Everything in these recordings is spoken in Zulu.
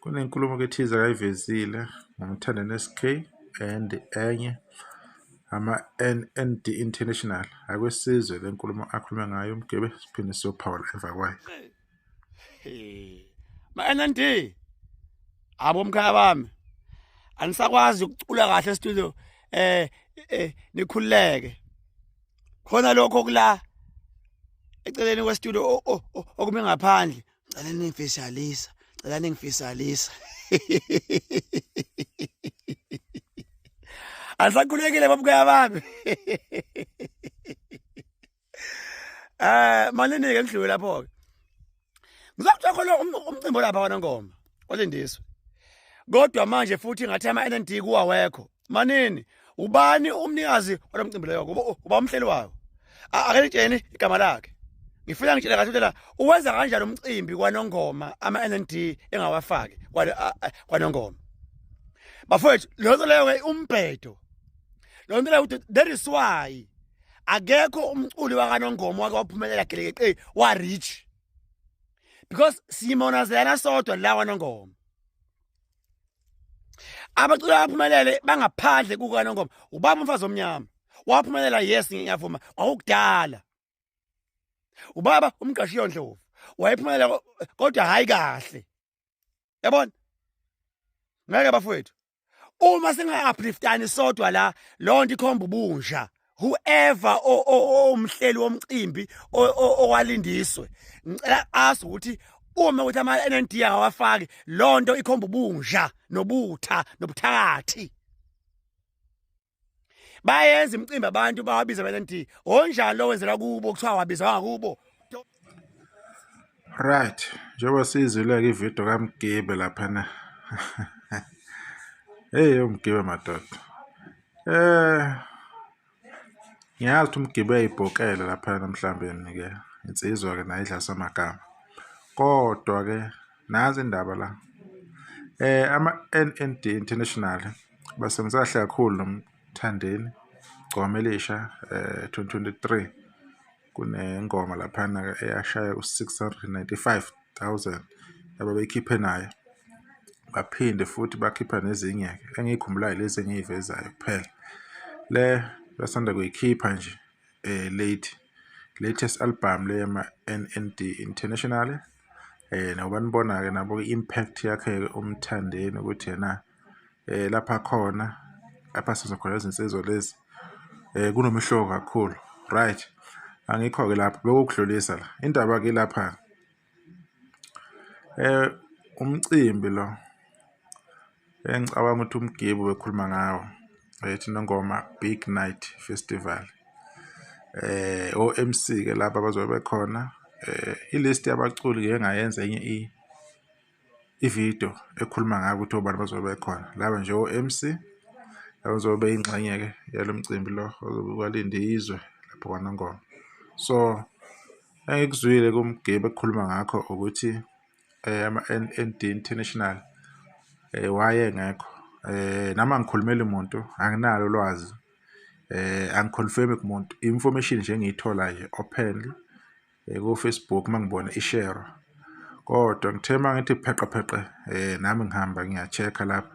Kunenkulumo ke thize akayivezile ngomthanda neSK and enye ama NND International akwesizwe lenkulumo akhuluma ngayo umgebe siphinde siyophawula emva kwayo. Ma NND abo mkhaya bami anisakwazi ukucula kahle estudio eh, eh nikhuleke khona lokho kula eceleni kwestudio okume ngaphandle cela ningifisalisa cela ningifisalisa andisakhulekile babukaya bami eh malini ke ngidlule lapho ke ngizokuthola khona um-, umcimbi lapha kwanongoma olindiswe kodwa manje futhi ngathi ama-nnd kuwawekho manini ubani umnikazi walo mcimbi loyo uba umhleli wawo akelitsheni igama lakhe ngifuna ngitshele kahle ukuthi uwenza kanjani umcimbi kwanongoma ama-nnd engawafaki kwanongoma bafowethu leyo nto leyo-ke umbhedo leyo nto leyo ukuthi there is why akekho umculi wakanongoma wake waphumelela gelekeqe wa-rich because simona zena sodwa lawa nongoma abaculi abaphumelele bangaphandle kuka nongoma ubaba umfazi omnyama waphumelela yes ngiyavuma kwakudala ubaba umqashi yondlovu wayephumelela kodwa hayi kahle yabona ngeke bafowethu uma singa-upliftani sodwa la loo nto ikhomba ubunja whoever omhleli womcimbi owalindiswe ngicela azi ukuthi uma ukuthi ama-nnd awafaki loo nto ikhomba ubunja nobutha nobuthakathi bayenza imicimbi abantu bawabiza bese nti onjani lo wenzela kubo kuthiwa wabiza wangakubo right njengoba sizile-ke ividiyo kamgibe laphana heyi umgibe madoda eh ngiyazi ukuthi umgibe uyayibhokela laphana mhlawumbe-ke insizwa-ke nayo idlasa amagama kodwa-ke Nansi indaba la. Eh ama-NND International basebenzisa kahle kakhulu nomthandeni gcome elisha eh 2023 kunengoma laphana eyashaya u-695,000 ababeyikhiphe nayo baphinde futhi bakhipha nezinye engiyikhumbulayo lezi engiyivezayo kuphela le basanda kuyikhipha nje eh late latest album le yama-NND International eh nakuba nibona-ke nabo i-impact yakhe umthandeni ukuthi yena eh lapha khona lapha sizokhona izinsizwa lezi eh kunomehluko kakhulu right angikho-ke lapho bekukudlulisa la indaba ke lapha eh umcimbi lo engicabanga ukuthi umgibu bekhuluma ngawo ethi nongoma big night festival eh o-MC ke laba bazobe bekhona eh ilist yabaculi ke ngayenza enye i ivideo ekhuluma ngayo ukuthi obani bazobe bekhona laba nje o-MC abazobe ingxenye ke yalo mcimbi lo ozobe kwalinde izwe lapho kwanongoma so engikuzwile kumgibe ekhuluma ngakho ukuthi ama-N_D International wayengekho nami angikhulumeli muntu anginalo ulwazi angi-confirm-i kumuntu i-information nje engiyithola nje open ko-Facebook uma ngibona i-share-wa kodwa ngithe uma ngithi pheqe pheqe nami ngihamba ngiya-check-a lapha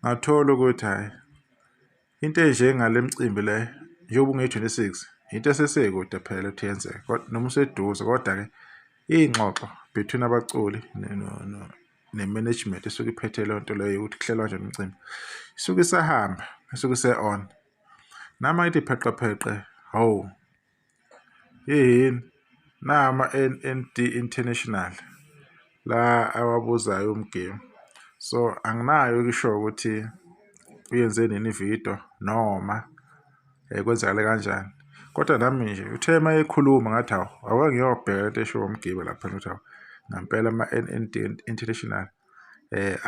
ngathola ukuthi hhayi into enje ngale mcimbi le njengoba unge-26 into esesekude phela ukuthi yenzeke noma useduze kodwa-ke iy'ngxoxo between abaculi ne-management esuke iphethe leyo nto leyo ukuthi kuhlelwa nje umcimbi isuke isahamba isuke ise-on nami ayithi pheqepheqe hawu Heheni, nayi ama-N_N_D International la awabuzayo uMgemu. So, anginayo-ke ishoyo ukuthi uyenze nini ividiyo noma kwenzakale kanjani. Kodwa nami nje uthe uma ekhuluma ngathi hawu awake ngiyobheka into eshiwo uMgebe lapha ukuthi hawu ngampela ama-N_N_D International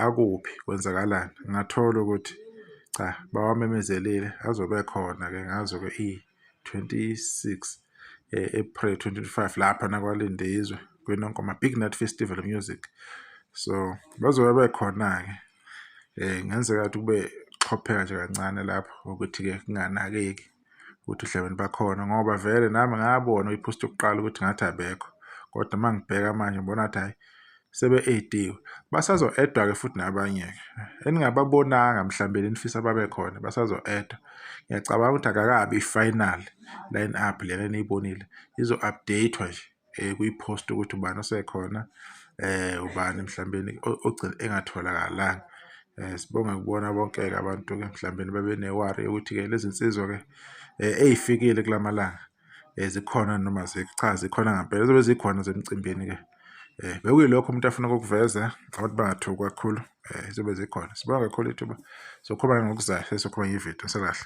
akuphi, kwenzakalani. Ngathola ukuthi cha bawamemezelile azobe ekhona-ke ngazo-ke . 26 eh, April 2025 lapha nakwalindizwe kwinonkoma Big Night Festival of Music so bazobe bekhona ke eh ngenzeka ukuthi kube xopheka nje kancane lapho ukuthi ke kunganakeki ukuthi uhlebeni bakhona ngoba vele nami ngabona uyipost yokuqala ukuthi ngathi abekho kodwa mangibheka manje ngibona ukuthi hayi sebe-ediwe basazo-edwa-ke futhi nabanye-ke eningababonanga mhlawumbe lenifisa babe khona basazo-edwa ngiyacabanga ukuthi akakabi i-final line up lena eniyibonile izo-update-wa nje um kuyi-post ukuthi ubani osekhona um ubani mhlawumbeni ogcina engatholakalanga um sibonge kubona bonke-ke abantu-ke mhlawumbeni babenewari yokuthi-ke lezi nsizwa-ke um eyifikile kula malanga zikhona noma cha zikhona ngampela zobe zikhona zemcimbini-ke um bekuyilokho umuntu afuna ukukuveza abantu bangathuki kakhulu um zizobe zikhona sibonga kakhulu ithuba sokhuluma ngokuzayo sesokhuluma ngevidiyo sekahle